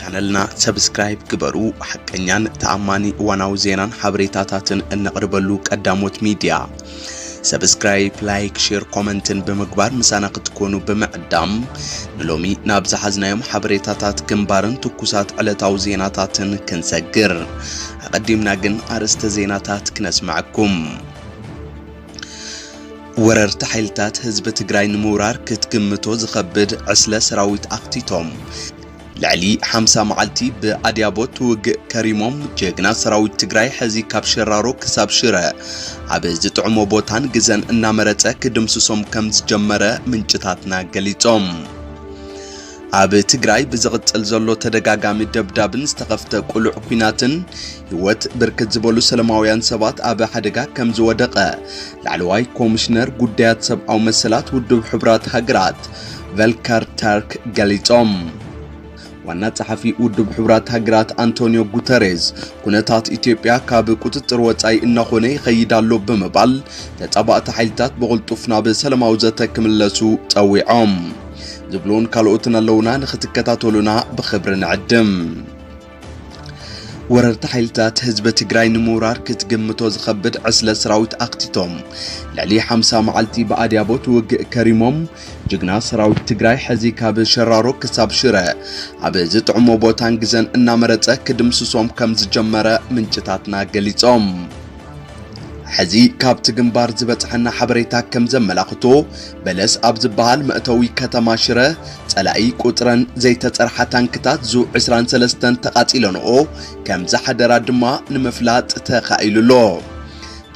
ቻነልና ሰብስክራይብ ግበሩ። ሓቀኛን ተኣማኒ እዋናዊ ዜናን ሓበሬታታትን እነቕርበሉ ቀዳሞት ሚዲያ። ሰብስክራይብ፣ ላይክ፣ ሼር፣ ኮመንትን ብምግባር ምሳና ክትኮኑ ብምዕዳም ንሎሚ ናብ ዝሓዝናዮም ሓበሬታታት ግንባርን ትኩሳት ዕለታዊ ዜናታትን ክንሰግር ኣቐዲምና ግን ኣርእስተ ዜናታት ክነስምዐኩም። ወረርቲ ሓይልታት ህዝቢ ትግራይ ንምውራር ክትግምቶ ዝኸብድ ዕስለ ሰራዊት ኣኽቲቶም ልዕሊ ሓምሳ መዓልቲ ብኣድያቦት ውግእ ከሪሞም ጀግና ሰራዊት ትግራይ ሕዚ ካብ ሸራሮ ክሳብ ሽረ ኣብ ዝጥዕሞ ቦታን ግዘን እናመረፀ ክድምስሶም ከም ዝጀመረ ምንጭታትና ገሊፆም። ኣብ ትግራይ ብዝቕጽል ዘሎ ተደጋጋሚ ደብዳብን ዝተኸፍተ ቁሉዕ ኩናትን ህይወት ብርክት ዝበሉ ሰለማውያን ሰባት ኣብ ሓደጋ ከም ዝወደቐ ላዕለዋይ ኮሚሽነር ጉዳያት ሰብኣዊ መሰላት ውድብ ሕቡራት ሃገራት ቨልከር ተርክ ገሊጾም። ዋና ጸሓፊ ውድብ ሕቡራት ሃገራት ኣንቶኒዮ ጉተሬዝ ኩነታት ኢትዮጵያ ካብ ቁጽጽር ወጻኢ እናኾነ ይኸይድ ኣሎ ብምባል ተጻባእቲ ሓይልታት ብቕልጡፍ ናብ ሰላማዊ ዘተ ክምለሱ ጸዊዖም። ዝብሉን ካልኦትን ኣለውና ንክትከታተሉና ብክብሪ ንዕድም። ወረርቲ ሓይልታት ህዝቢ ትግራይ ንምውራር ክትግምቶ ዝኸብድ ዕስለ ሰራዊት ኣኽቲቶም ልዕሊ 50 መዓልቲ ብኣድያቦት ውግእ ከሪሞም ጅግና ሰራዊት ትግራይ ሕዚ ካብ ሸራሮ ክሳብ ሽረ ኣብ ዝጥዕሞ ቦታን ግዘን እናመረፀ ክድምስሶም ከም ዝጀመረ ምንጭታትና ገሊፆም። ሕዚ ካብቲ ግንባር ዝበጽሐና ሓበሬታ ከም ዘመላኽቶ በለስ ኣብ ዝበሃል መእተዊ ከተማ ሽረ ጸላኢ ቁጽረን ዘይተጸርሓ ታንክታት ዙ 23 ተቓጺለንኦ ከም ዝሓደራ ድማ ንምፍላጥ ተኻኢሉ ኣሎ።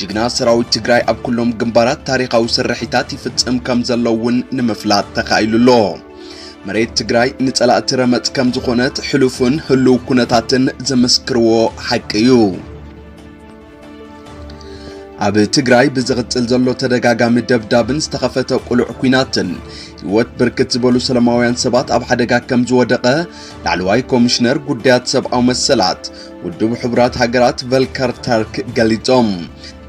ጅግና ሰራዊት ትግራይ ኣብ ኩሎም ግንባራት ታሪኻዊ ስርሒታት ይፍጽም ከም ዘሎ እውን ንምፍላጥ ተኻኢሉ ኣሎ። መሬት ትግራይ ንጸላእቲ ረመጽ ከም ዝኾነት ሕሉፍን ህሉው ኩነታትን ዝምስክርዎ ሓቂ እዩ። ኣብ ትግራይ ብዝቕጽል ዘሎ ተደጋጋሚ ደብዳብን ዝተኸፈተ ቁልዕ ኩናትን ህይወት ብርክት ዝበሉ ሰላማውያን ሰባት ኣብ ሓደጋ ከም ዝወደቐ ላዕለዋይ ኮሚሽነር ጉዳያት ሰብኣዊ መሰላት ውድብ ሕቡራት ሃገራት ቨልከር ተርክ ገሊጾም።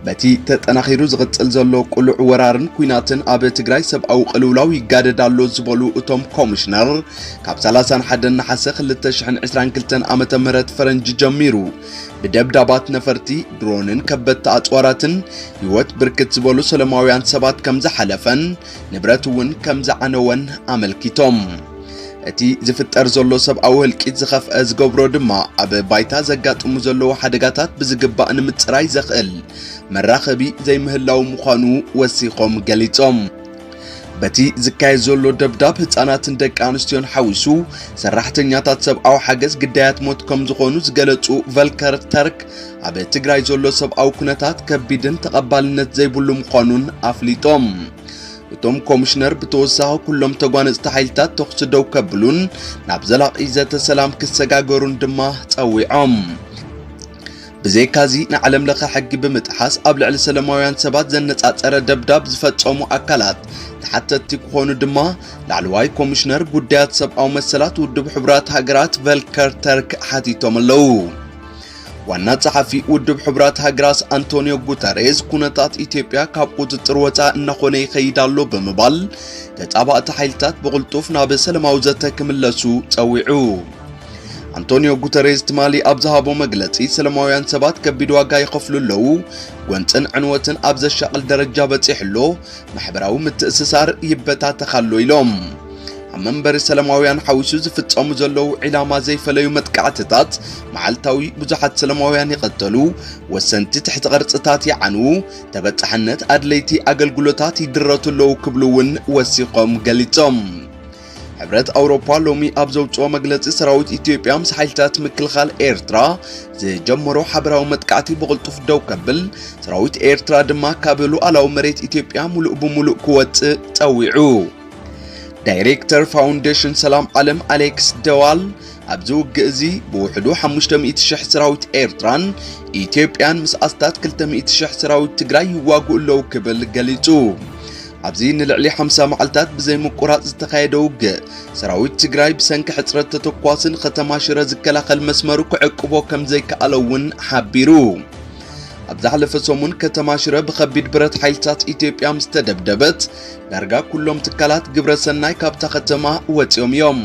በቲ ተጠናኺሩ ዝቕጽል ዘሎ ቁልዕ ወራርን ኩናትን ኣብ ትግራይ ሰብኣዊ ቅልውላው ይጋደድ ኣሎ ዝበሉ እቶም ኮሚሽነር ካብ 31 ነሓሰ 2022 ዓ ም ፈረንጂ ጀሚሩ ብደብዳባት ነፈርቲ፣ ድሮንን ከበድቲ ኣጽዋራትን ህይወት ብርክት ዝበሉ ሰለማውያን ሰባት ከም ዝሓለፈን ንብረት እውን ከም ዝዓነወን ኣመልኪቶም። እቲ ዝፍጠር ዘሎ ሰብኣዊ ህልቂት ዝኸፍአ ዝገብሮ ድማ ኣብ ባይታ ዘጋጥሙ ዘለዉ ሓደጋታት ብዝግባእ ንምጽራይ ዘኽእል መራኸቢ ዘይምህላዉ ምዃኑ ወሲኾም ገሊጾም። በቲ ዝካየድ ዘሎ ደብዳብ ህፃናትን ደቂ ኣንስትዮን ሓዊሱ ሰራሕተኛታት ሰብኣዊ ሓገዝ ግዳያት ሞት ከም ዝኾኑ ዝገለጹ ቨልከር ተርክ ኣብ ትግራይ ዘሎ ሰብኣዊ ኩነታት ከቢድን ተቐባልነት ዘይብሉ ምዃኑን ኣፍሊጦም። እቶም ኮሚሽነር ብተወሳኺ ኩሎም ተጓነፅቲ ሓይልታት ተኹሲ ደው ከብሉን ናብ ዘላቒ ዘተ ሰላም ክሰጋገሩን ድማ ጸዊዖም። ብዘይካዚ ንዓለም ለኸ ሕጊ ብምጥሓስ ኣብ ልዕሊ ሰለማውያን ሰባት ዘነጻጸረ ደብዳብ ዝፈጸሙ ኣካላት ተሓተትቲ ክኾኑ ድማ ላዕለዋይ ኮሚሽነር ጉዳያት ሰብኣዊ መሰላት ውድብ ሕቡራት ሃገራት ቨልከር ተርክ ሓቲቶም ኣለዉ። ዋና ጸሓፊ ውድብ ሕቡራት ሃገራት ኣንቶኒዮ ጉተሬዝ ኩነታት ኢትዮጵያ ካብ ቁጽጽር ወፃእ እናኾነ ይኸይድ ኣሎ ብምባል ተጻባእቲ ሓይልታት ብቕልጡፍ ናብ ሰላማዊ ዘተ ክምለሱ ጸዊዑ። ኣንቶኒዮ ጉተሬዝ ትማሊ ኣብ ዝሃቦ መግለጺ ሰለማውያን ሰባት ከቢድ ዋጋ ይኸፍሉ ኣለዉ፣ ጎንጽን ዕንወትን ኣብ ዘሻቕል ደረጃ በጺሑ ኣሎ፣ ማሕበራዊ ምትእስሳር ይበታተኽ ኣሎ ኢሎም። ኣብ መንበሪ ሰለማውያን ሓዊሱ ዝፍጸሙ ዘለዉ ዒላማ ዘይፈለዩ መጥቃዕትታት መዓልታዊ ብዙሓት ሰለማውያን ይቐተሉ፣ ወሰንቲ ትሕቲ ቅርጽታት ይዓንዉ፣ ተበጻሕነት ኣድለይቲ ኣገልግሎታት ይድረቱ ኣለዉ ክብሉ እውን ወሲኾም ገሊጾም። ሕብረት ኣውሮፓ ሎሚ ኣብ ዘውጽኦ መግለጺ ሰራዊት ኢትዮጵያ ምስ ሓይልታት ምክልኻል ኤርትራ ዝጀመሮ ሓበራዊ መጥቃዕቲ ብቕልጡፍ ደው ከብል ሰራዊት ኤርትራ ድማ ካብ ሉዓላዊ መሬት ኢትዮጵያ ሙሉእ ብሙሉእ ክወጽእ ጸዊዑ። ዳይሬክተር ፋውንዴሽን ሰላም ዓለም ኣሌክስ ደዋል ኣብዚ ውግእ እዚ ብውሕዱ ሓሙሽተ ሚእቲ ሽሕ ሰራዊት ኤርትራን ኢትዮጵያን ምስ ኣስታት ክልተ ሚእቲ ሽሕ ሰራዊት ትግራይ ይዋግኡ ኣለዉ ክብል ገሊጹ። ኣብዚ ንልዕሊ ሓምሳ መዓልታት ብዘይምቁራጽ ዝተኻየደ ውግእ ሰራዊት ትግራይ ብሰንኪ ሕጽረት ተተኳሲ ንከተማ ሽረ ዝከላኸል መስመሩ ክዕቅቦ ከም ዘይከኣለ እውን ሓቢሩ። ኣብ ዝሓለፈ ሰሙን ከተማ ሽረ ብከቢድ ብረት ሓይልታት ኢትዮጵያ ምስ ተደብደበት ዳርጋ ኩሎም ትካላት ግብረ ሰናይ ካብታ ከተማ ወጺኦም እዮም።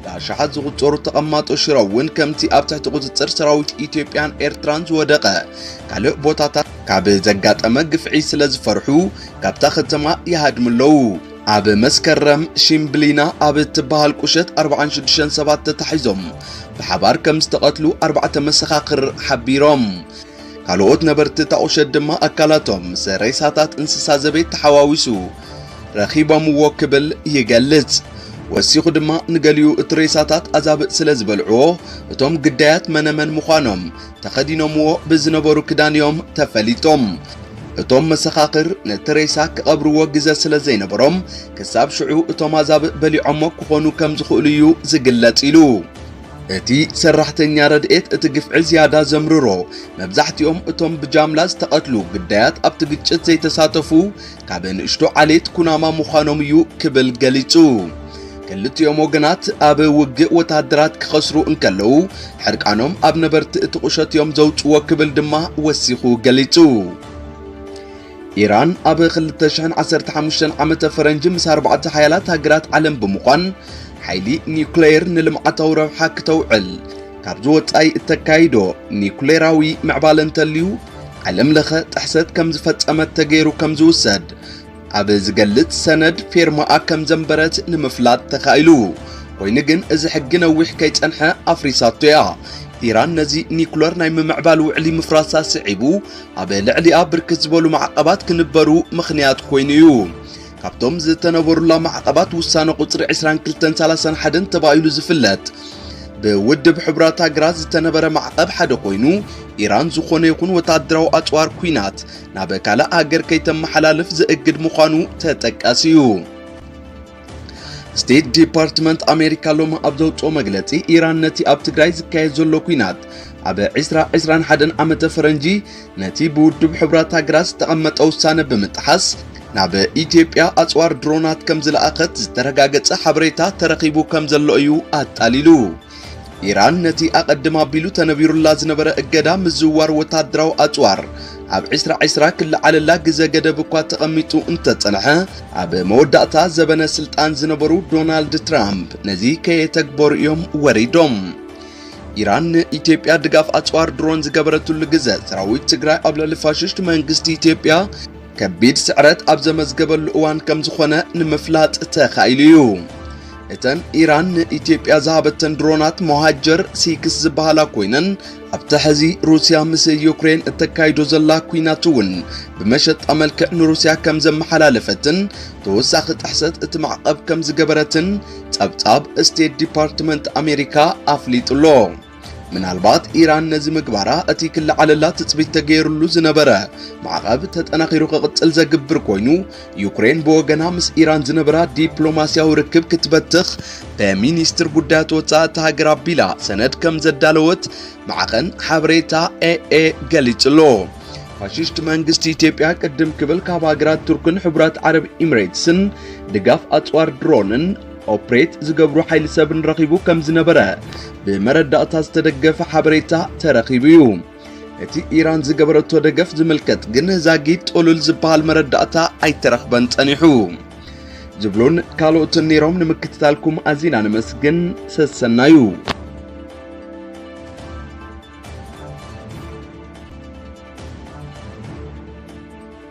ብኣሽሓት ዝቑጸሩ ተቐማጦ ሽረ እውን ከምቲ ኣብ ትሕቲ ቁጽጽር ሰራዊት ኢትዮጵያን ኤርትራን ዝወደቐ ካልእ ቦታታት ካብ ዘጋጠመ ግፍዒ ስለ ዝፈርሑ ካብታ ከተማ ይሃድሙ ኣለዉ። ኣብ መስከረም ሽምብሊና ኣብ እትበሃል ቁሸት 46 ሰባት ተታሒዞም ብሓባር ከም ዝተቐትሉ ኣርባዕተ መሰኻኽር ሓቢሮም። ካልኦት ነበርቲ እታ ቁሸት ድማ ኣካላቶም ምስ ሬሳታት እንስሳ ዘቤት ተሓዋዊሱ ረኺቦምዎ ክብል ይገልጽ። ወሲኹ ድማ ንገሊኡ እቲ ሬሳታት ኣዛብእ ስለ ዝበልዕዎ እቶም ግዳያት መነመን ምዃኖም ተኸዲኖምዎ ብዝነበሩ ክዳን እዮም ተፈሊጦም። እቶም መሰኻኽር ነቲ ሬሳ ክቐብርዎ ግዘ ስለ ዘይነበሮም ክሳብ ሽዑ እቶም ኣዛብእ በሊዖሞ ክኾኑ ከም ዝኽእሉ እዩ ዝግለጽ ኢሉ። እቲ ሰራሕተኛ ረድኤት እቲ ግፍዒ ዝያዳ ዘምርሮ መብዛሕትኦም እቶም ብጃምላ ዝተቐትሉ ግዳያት ኣብቲ ግጭት ዘይተሳተፉ ካብ ንእሽቶ ዓሌት ኩናማ ምዃኖም እዩ ክብል ገሊጹ። ክልቲኦም ወገናት ኣብ ውግእ ወተሃደራት ክኸስሩ እንከለዉ ሕርቃኖም ኣብ ነበርቲ እቲ ቁሸት እዮም ዘውጽዎ ክብል ድማ ወሲኹ ገሊጹ። ኢራን ኣብ ክልተ ሽሕን ዓሰርተ ሓሙሽተን ዓመተ ፈረንጂ ምስ ኣርባዕተ ሓያላት ሃገራት ዓለም ብምዃን ሓይሊ ኒውክሌር ንልምዓታዊ ረብሓ ክተውዕል ካብዚ ወጻኢ እተካይዶ ኒውክሌራዊ ምዕባለ እንተልዩ ዓለም ለኸ ጥሕሰት ከም ዝፈጸመት ተገይሩ ከም ዝውሰድ ኣብ ዝገልጽ ሰነድ ፌርማኣ ከም ዘንበረት ንምፍላጥ ተኻኢሉ። ኮይኑ ግን እዚ ሕጊ ነዊሕ ከይጸንሐ ኣፍሪሳቶ እያ። ኢራን ነዚ ኒኩለር ናይ ምምዕባል ውዕሊ ምፍራሳ ስዒቡ ኣብ ልዕሊኣ ብርክት ዝበሉ ማዕቐባት ክንበሩ ምኽንያት ኮይኑ እዩ። ካብቶም ዝተነበሩላ ማዕቐባት ውሳነ ቁፅሪ 22ን 31ን ተባሂሉ ዝፍለጥ ብውድብ ሕቡራት ሃገራት ዝተነበረ ማዕቐብ ሓደ ኮይኑ ኢራን ዝኾነ ይኹን ወታደራዊ ኣፅዋር ኩናት ናብ ካልእ ሃገር ከይተመሓላልፍ ዘእግድ ምዃኑ ተጠቃሲ እዩ። ስቴት ዲፓርትመንት ኣሜሪካ ሎሚ ኣብ ዘውፅኦ መግለፂ ኢራን ነቲ ኣብ ትግራይ ዝካየድ ዘሎ ኩናት ኣብ 2021 ዓመተ ፈረንጂ ነቲ ብውድብ ሕብራት ሃገራት ዝተቐመጠ ውሳነ ብምጥሓስ ናብ ኢትዮጵያ ኣፅዋር ድሮናት ከም ዝለኣኸት ዝተረጋገፀ ሓበሬታ ተረኺቡ ከም ዘሎ እዩ ኣጣሊሉ። ኢራን ነቲ ኣቐድም ኣቢሉ ተነቢሩላ ዝነበረ እገዳ ምዝውዋር ወተሃደራዊ ኣጽዋር ኣብ ዕስራ ዕስራ ክለዓለላ ግዘ ገደብ እኳ ተቐሚጡ እንተጸንሐ ኣብ መወዳእታ ዘበነ ስልጣን ዝነበሩ ዶናልድ ትራምፕ ነዚ ከየተግበሩ እዮም ወሪዶም። ኢራን ንኢትዮጵያ ድጋፍ ኣጽዋር ድሮን ዝገበረትሉ ግዘ ሰራዊት ትግራይ ኣብ ልዕሊ ፋሽስት መንግስቲ ኢትዮጵያ ከቢድ ስዕረት ኣብ ዘመዝገበሉ እዋን ከም ዝኾነ ንምፍላጥ ተኻኢሉ እዩ። እተን ኢራን ንኢትዮጵያ ዝሃበተን ድሮናት ሞሃጀር ሲክስ ዝበሃላ ኮይነን ኣብቲ ሕዚ ሩስያ ምስ ዩክሬን እተካይዶ ዘላ ኩናት እውን ብመሸጣ መልክዕ ንሩስያ ከም ዘመሓላለፈትን ተወሳኺ ጥሕሰት እቲ ማዕቐብ ከም ዝገበረትን ጸብጻብ ስቴት ዲፓርትመንት ኣሜሪካ ኣፍሊጡ ኣሎ። ምናልባት ኢራን ነዚ ምግባራ እቲ ክለዓለላ ትጽቢት ተገይሩሉ ዝነበረ ማዕቐብ ተጠናኺሩ ክቕጽል ዘግብር ኮይኑ ዩክሬን ብወገና ምስ ኢራን ዝነበራ ዲፕሎማስያዊ ርክብ ክትበትኽ በሚኒስትር ጉዳያት ወፃኢ እታ ሃገር ኣቢላ ሰነድ ከም ዘዳለወት ማዕኸን ሓበሬታ ኤኤ ገሊጹሎ። ፋሽስት መንግስቲ ኢትዮጵያ ቅድም ክብል ካብ ሃገራት ቱርክን ሕቡራት ዓረብ ኢሚሬትስን ድጋፍ ኣጽዋር ድሮንን ኦፕሬት ዝገብሩ ሓይሊ ሰብን ረኺቡ ከም ዝነበረ ብመረዳእታ ዝተደገፈ ሓበሬታ ተረኺቡ እዩ። እቲ ኢራን ዝገበረቶ ደገፍ ዝምልከት ግን ዛጊድ ጥሉል ዝበሃል መረዳእታ ኣይተረኽበን ጸኒሑ ዝብሉን ካልኦትን ነይሮም። ንምክትታልኩም ኣዚና ነመስግን። ሰሰናዩ